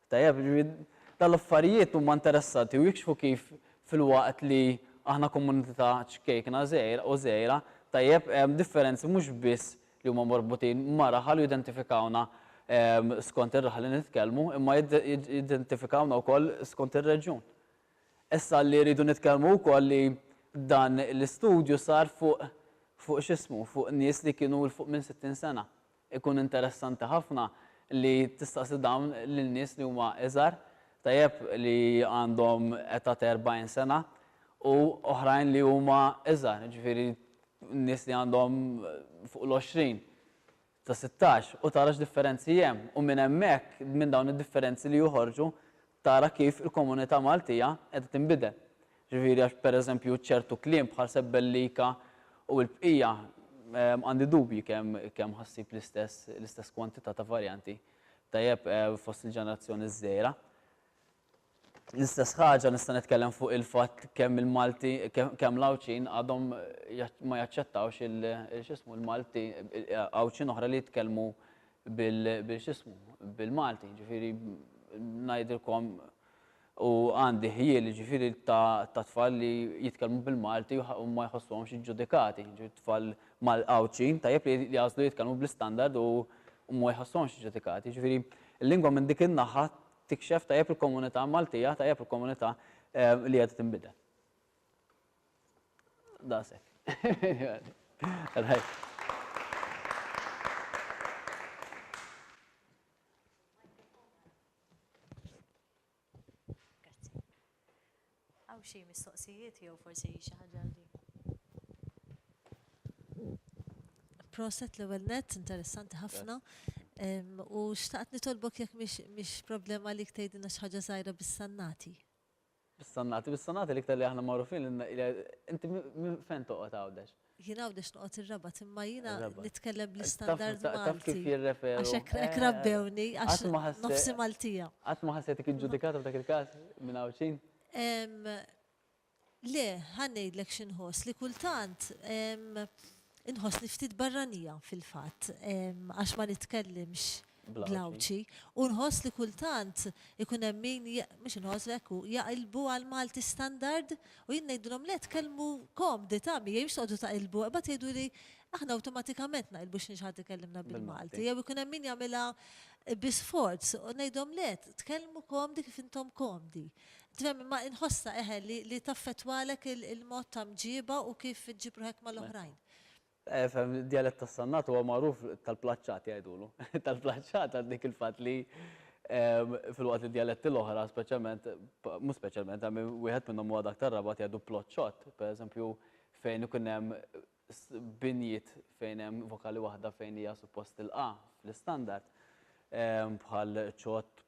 Tajjeb, jiġifieri dawn l-affarijiet huma interessanti u jikxfu kif filwaqt li aħna komunità ċkejkna żgħira u żgħira, tajjeb, hemm differenzi mhux biss li huma marbutin ma' raħal u jidentifikawna skont ir-raħal li nitkellmu, imma jidentifikawna wkoll skont ir-reġjun. Issa li rridu nitkellmu wkoll li dan l-istudju sar fuq fuq x'ismu, fuq nies li kienu 'l fuq minn 60 sena. Ikun interessanti ħafna li tistaqsi dawn lil nies li huma iżgħar, tajjeb li għandhom età ta' erbgħin sena u oħrajn li huma iżgħar, jiġifieri nies li għandhom fuq l-għoxrin, ta' sittax, u tara x'differenzi hemm. U minn hemmhekk, minn dawn id-differenzi li joħorġu, tara kif il-komunità Maltija qiegħda tinbidel. Ġifieri għax pereżempju ċertu kliem bħal sebbellika u l-bqija għandi dubji kemm kemm ħa ssib l-istess l-istess kwantità ta' varjanti tajjeb fost il-ġenerazzjoni ż-żgħira. L-istess ħaġa nista' nitkellem fuq il-fatt kemm il-Malti kemm l-Għawdxin għadhom ma jaċċettawx il x'ismu l-Malti Għawdxin oħra li jitkellmu bil x'ismu bil-Malti. Ġifieri ngħidilkom u għandi ħjiel jiġifieri ta' ta' tfal li jitkellmu bil-Malti u ma jħossuhomx iġġudikati, jiġifieri tfal Mal Għawdxin tajjeb li jagħżlu jitkellmu bl-istandard u u ma jħossuhomx iġġudikati. Jiġifieri l-lingwa minn dik in-naħa tikxef tajjeb il-komunità Maltija, tajjeb il-komunità ehm li qiegħda tinbidel. Daqshekk. Għaw xie mistoqsijiet jew forsi xi ħaġa li. Proset l-ewwel net, interessanti ħafna. U xtaqt nitolbok jekk mhix problema li tgħidilna xi ħaġa żgħira bis-sannati. Bis-sonnati, bis-sonati l-iktar li aħna magħrufin li inti minn fejn toqgħod Għawdex? Jien Għawdex noqgħod ir-Rabat imma jiena nitkellem bl-istandard Malti. Taf kif jirreferu. Għax hekk hekk rabbewni għax nofsi Maltija. Qatt ma ħassejtek iġġudikata f'dak il-każ minn Għawdxin? Le, ħa ngħidlek xi nħoss, li kultant inħossni ftit barranija fil-fatt għax ma nitkellimx bl-Għawdxi u nħoss li kultant ikun hemm min, mhux inħoss, hekk hu, jaqilbu għall-Malti standard u jien ngħidilhom le tkellmu komdi ta' miegħi mhux toqgħodu taqilbu, imbagħad jgħiduli aħna awtomatikament naqilbu x'nix ħadd ikellimna bil-Malti jew ikun hemm min jagħmilha bi sforz u ngħidhom le tkellmu komdi kif intom komdi. Tifhem imma inħossha eħe li taffettwalek il-mod ta' mġieba u kif iġġib ruħek mal-oħrajn. Efhem, id-djalett tas-Sannat huwa magħruf tal-plaċċati jgħidulu. Tal-plaċċata għal dik il-fatt li filwaqt li d-djaletti l-oħra speċjalment, mhux speċjalment, għalmi wieħed minnhom huwa dak tar-Rabat jgħidu ploċċott, pereżempju fejn ikun hemm binjiet fejn hemm vokali waħda fejn hija suppost tilqa' fl-istandard, bħal ċott,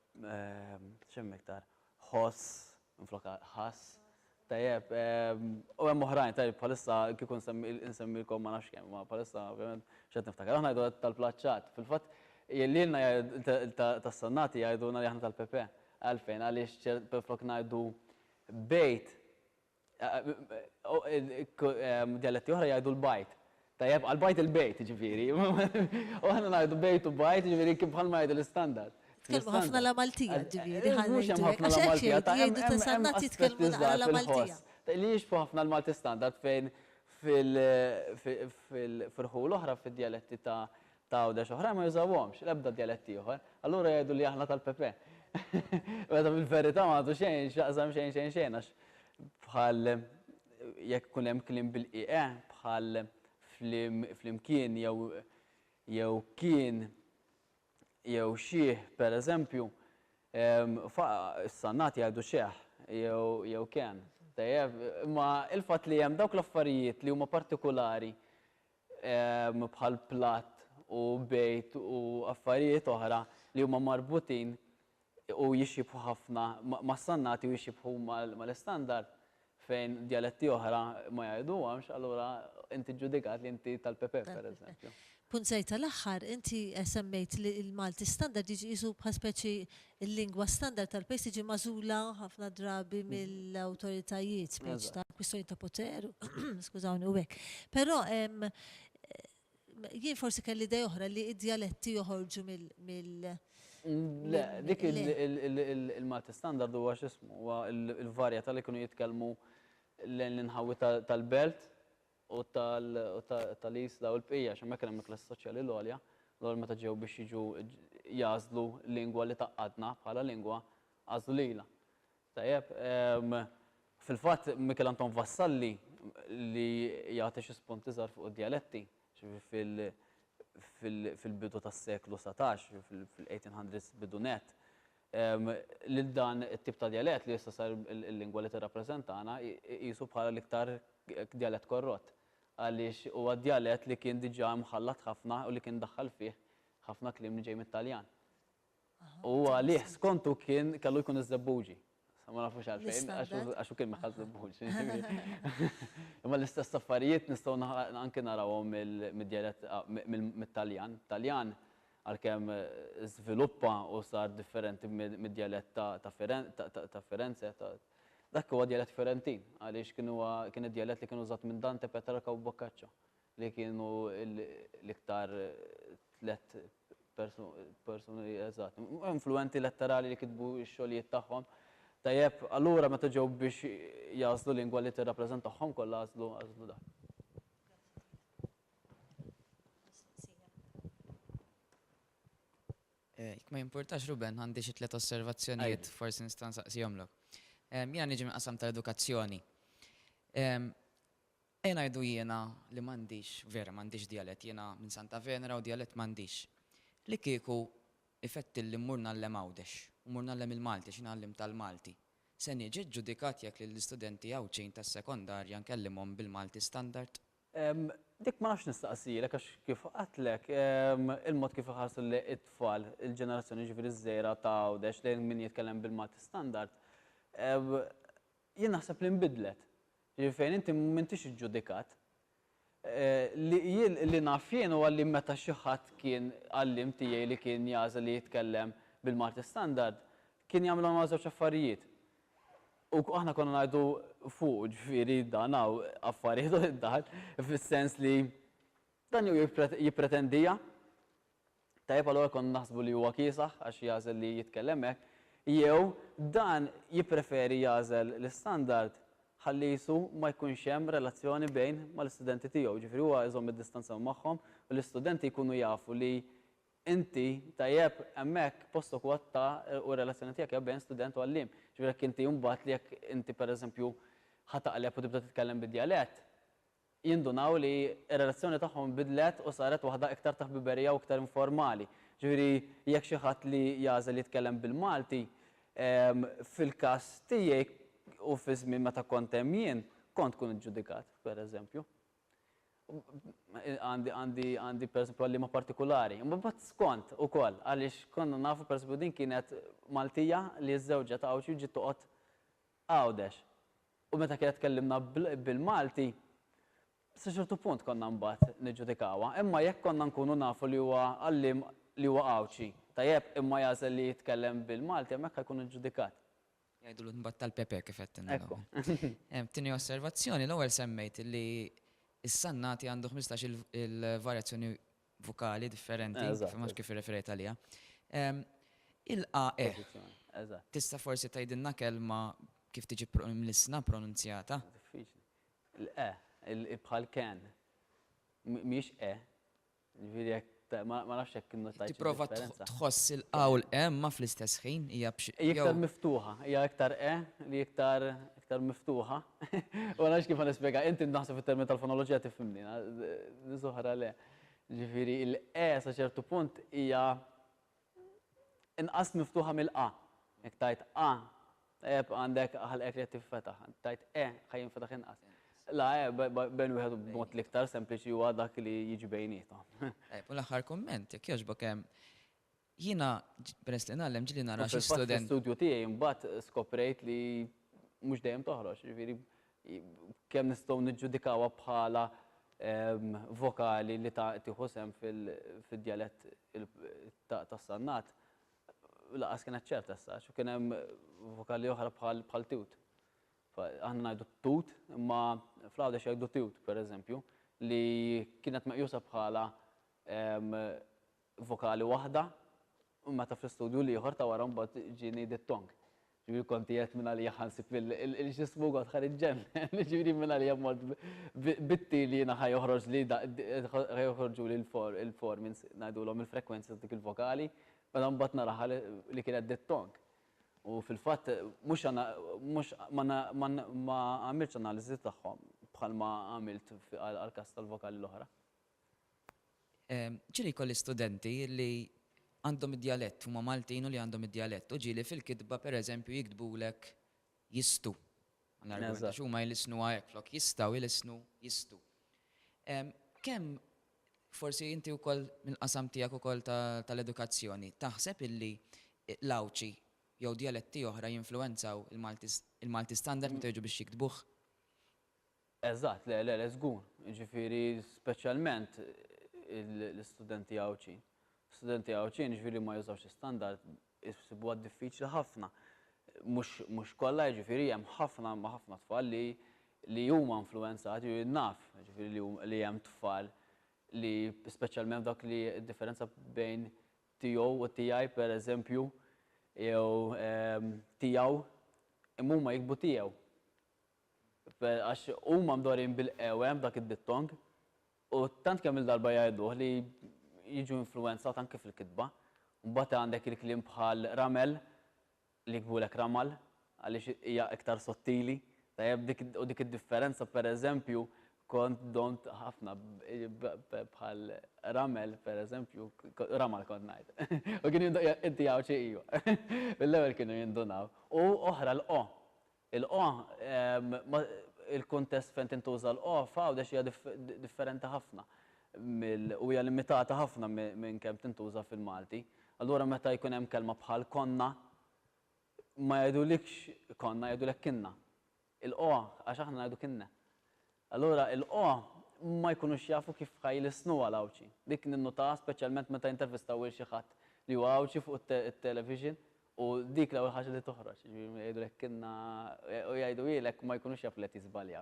x'hemm iktar, ħoss, minflokha ħass. Tajjeb, u hemm oħrajn, tajjeb bħalissa kieku nsemmi insemmilkom ma nafx kemm, imma bħalissa ovvjament mhux qed niftakar. Aħna ngħidu tal-plaċċat. Fil-fatt lilna tas-Sannati jgħidulna li aħna tal-Pepe. Għalfejn? Għaliex minflok ngħidu bejt, djaletti oħra jgħidu l-bajt. Tajjeb, għal bajt il-bejt, jiġifieri. U aħna ngħidu bejt u bajt, jiġifieri kif bħalma jgħidu l-istandard. Tkellmu ħafna l-Amaltija, ġifieri, ħa ngħidu hekk. Mhux hemm ħafna l-Amaltija, ta' hemm aspetti żgħar fil-ħoss li jixbħu ħafna l-Malti standard fejn fil-ħu l-oħra, fid-djaletti ta' ta' Għawdex oħrajn ma jużawhomx, l-ebda djalett ieħor, allura jgħidu li aħna tal-PP. Meta fil-verità ma għandu xejn x'jaqsam xejn xejn xejn għax bħal jekk ikun hemm kliem bil-qieqe bħal flimkien jew jew kien jew xih pereżempju is-Sannat jgħidu xeħ jew kien. Tajjeb, imma il-fatt li hemm dawk l-affarijiet li huma partikulari bħal platt u bejt u affarijiet oħra li huma marbutin u jixibħu ħafna mas-sannati u jixibħu mal-istandard fejn djaletti oħra ma jgħiduhomx allura inti ġġudikat li inti tal-Pepe pereżempju. Punt żgħir tal-aħħar, inti semmejt li l-Malti standard jiġi qisu bħal speċi Il-lingwa standard tal-pejs tiġi magħżula ħafna drabi mill-awtoritajiet speċi ta' kwistjoni ta' poter, skużawni, u hekk. Però hemm jien forsi kelli idea oħra li d-djaletti joħorġu mill Le, dik il-Malti standard huwa x'ismu, huwa l-varjetà li kienu jitkellmu l-inħawi tal-belt u tal-IS daw il-bqija, għax hemmhekk kien hemm il-klassi soċjali l-għolja, allura meta ġew biex jiġu jagħżlu lingwa li tgħaqqadna bħala lingwa, għażlu lilha. Tajjeb, fil-fatt Mikiel Anton Vassalli li jagħti xi spunti żgħar fuq id-djaletti, ġifieri fil-bidu tas-seklu satax, fil-eighteen hundreds bidu nett, lil dan it-tip ta' djalett li issa sar il-lingwa li tirrappreżentana iqisu bħala l-iktar djalett korrott għaliex huwa djalett li kien diġà mħallat ħafna u li kien daħħal fih ħafna kliem li ġej mit-Taljan. U huwa għalih skontu kien kellu jkun iż-Żebbuġi. Ma nafux għalfejn, għax hu kien meħħa Żebbuġi. Imma l-istess affarijiet nistgħu anke narawhom mid-djalett mit-Taljan. Taljan għalkemm żviluppa u sar differenti mid-djalett ta' Firenze, dak huwa djalett Firentin, għaliex kien huwa kien id-djalett li kien użat minn Dante, Petrarca u Boccaccio, li kienu l-iktar tliet persuni eżatti, influwenti letterali li kitbu x-xogħlijiet tagħhom. Tajjeb, allura meta ġew biex jagħżlu lingwa li tirrappreżentahom kollha għażlu dak. Jekk ma jimpurtax Ruben, għandi xi tliet osservazzjonijiet forsi nista' nsaqsihomlok. Jiena niġi mill-qasam tal-edukazzjoni. Ejja ngħidu jiena li m'għandix, vera m'għandix djalett, jiena minn Santa Venera u djalett m'għandix. Li kieku jfettilli mmur ngħallem Għawdex u mmur ngħallem il-Malti għax jiena għallimt tal-Malti, se niġi ġġudikat jekk lill-istudenti Għawdxin tas-sekondarja nkellimhom bil-Malti standard? Dik ma nafx nistaqsijlek għax kif għedtlek, il-mod kif iħarsu lejn it-tfal, il-ġenerazzjoni jiġifieri ż-żgħira ta' Għawdex lejn min jitkellem bil-Malti standard, jien naħseb li nbidlet. Jiġifieri fejn inti m'intix iġġudikat. Li jien li naf jien huwa li meta xi ħadd kien għalliem tiegħi li kien jagħżel li jitkellem bil-Malti standard, kien jagħmilhom żewġ affarijiet. U aħna konna ngħidu fuqu, ġifieri dan hawn affar jieħdu id-daħal, fis-sens li dan jew jippretendiha, tajjeb allura konna naħsbu li huwa kiesaħ għax jagħżel li jitkellem hekk, jew dan jippreferi jagħżel l-istandard ħalli qisu ma jkunx hemm relazzjoni bejn mal-istudenti tiegħu, ġifieri huwa jżomm id-distanza magħhom u l-istudenti jkunu jafu li Inti, tajjeb, hemmhekk postok huwa ta' u r-relazzjoni tiegħek hija bejn student u għalliem. Ġifieri jekk inti mbagħad li jekk inti pereżempju ħa taqleb u tibda titkellem bid-djalett, jindunaw li r-relazzjoni tagħhom inbidlet u saret waħda iktar ta' ħbiberija u iktar informali. Ġifieri jekk xi ħadd li jagħżel jitkellem bil-Malti, fil-każ tiegħi u fiż-żmien meta kont hemm jien, kont tkun iġġudikat, pereżempju. għandi għandi għandi pereżempju għalliema partikulari. Imma mbagħad skont ukoll għaliex konna nafu pereżempju din kienet Maltija li żżewġet Għawdxi u ġiet toqgħod Għawdex. U meta kienet tkellimna bil-Malti, sa ċertu punt konna mbagħad niġġudikawha. Imma jekk konna nkunu nafu li huwa għalliem li huwa Għawdxi, tajjeb, imma jagħżel li jitkellem bil-Malti hemmhekk ħajkun iġġudikat. Jgħidulu t-nbatta l-pepe kif qed inna l-ewwel. Tieni osservazzjoni, l-ewwel semmejt li s-Sannati għandu ħmistax il-varjazzjoni vokali differenti, ma kif irreferejt għaliha. Il-a e. Tista' forsi tgħidilna kelma kif tiġi mlissna pronunzjata? Diffiċli. Il-e, bħal can, mhix e. Ġifieri jekk ta- ma ma nafx jekk innotajt xi Tipprova tħ- differenza. tħoss il-qawl e ma fl-istess ħin hija b'xi. Hija iktar jew- miftuħa, hija iktar e li iktar iktar miftuħa. U ma nafx kif ħanispjega, inti naħseb fit-termini tal-fonoloġija tifhimni, na- nies oħra le. Ġifieri l-e sa ċertu punt hija Inqas miftuħa mill-A. Jekk tgħid A, tajjeb, għandek ħalqek li qed tinfetaħ. Jekk tgħid E, ħa jinfetaħ inqas. La, E, bejn wieħed u b'mod l-iktar sempliċi huwa dak li jiġi bejniethom. Tajjeb, u l-aħħar kumment, jekk jogħġbok, jiena peress li ngħallem ġieli nara xi studenti. Fil-fatt fl-istudju tiegħi mbagħad skoprejt li mhux dejjem toħroġ, jiġifieri Kemm nistgħu niġġudikawha bħala vokali li tieħu sehem fid-djalett tas-Sannat, lanqas kienet ċerta issa għax kien hemm vokali oħra bħal tut. Aħna ngħidu tut imma fl-Għawdex jgħidu tiwt, pereżempju, li kienet meqjusa bħala vokali waħda. U meta fl-istudju l-ieħor ta' wara mbagħad ġieni dittong. Ġifieri kont qiegħed minn għalija ħansib il-ġismu kont ħa niġġennen, ġifieri minn għalija mort bitti li jiena ħa joħroġli ħa joħorġuli l-formi ngħidulhom il-frekwenzi ta' dik il-vokali, meta mbagħad naraha li kienet dittong. U fil-fatt mhux mhux ma għamiltx analiżi tagħhom bħalma għamilt għall-każ tal-vokali l-oħra. Ġieli jkolli studenti li għandhom id-djalett, huma Maltin u li għandhom id-djalett u ġieli fil-kitba pereżempju jiktbulek jistu. Għax huma jlissnuha hekk, flok jistgħu jlissnu jistu. Kemm forsi inti wkoll mill-qasam tiegħek ukoll tal-edukazzjoni taħseb illi l-Għawdxi jew djaletti oħra jinfluwenzaw il-Malti standard meta jiġu biex jiktbuh? Eżatt, le, le, le, żgur. Jiġifieri speċjalment l-istudenti Għawdxin. Studenti Għawdxin jiġifieri ma jużawx l-istandard isibuha diffiċli ħafna. Mhux mhux kollha jiġifieri hemm ħafna imma ħafna tfal li li huma influwenzati u naf jiġifieri li li hemm tfal li speċjalment f'dak li d-differenza bejn tiegħu u tiegħi pereżempju jew tiegħu imma huma jiktbu tiegħu. Għax huma mdorrijin bil-qewem b'dak id-dittong, u tant kemm-il darba jgħiduh li jiġu influwenzat anki fil-kitba. Mbagħad għandek il-kliem bħal ramel li jiktbulek ramal għaliex hija iktar sottili, tajjeb? U dik id-differenza pereżempju kont domt ħafna bħal ramel pereżempju ramal kont ngħid. U kienu jindunaw, inti Għawdxi? Iva. Mill-ewwel kienu jindunaw. U oħra l-o. Il-qo, il-kuntest fejn tintuża l-qo f'Għawdex hija differenti ħafna mill u hija limitata ħafna minn kemm tintuża fil-Malti. Allura meta jkun hemm kelma bħal konna, ma jgħidulikx konna, jgħidulek kinna. Il-qo, għax aħna ngħidu kinne. Allura il-qgħa ma jkunux jafu kif ħa jlissnu għal Għawdxi. Dik ninnutaha speċjalment meta jintervistaw lil xi ħadd li huwa Għawdxi fuq it-television u dik l-ewwel ħaġa li toħroġ. Jiġifieri jgħidulek kienna u jgħidu jgħidlek ma jkunux jafu li qed jiżbaljaw.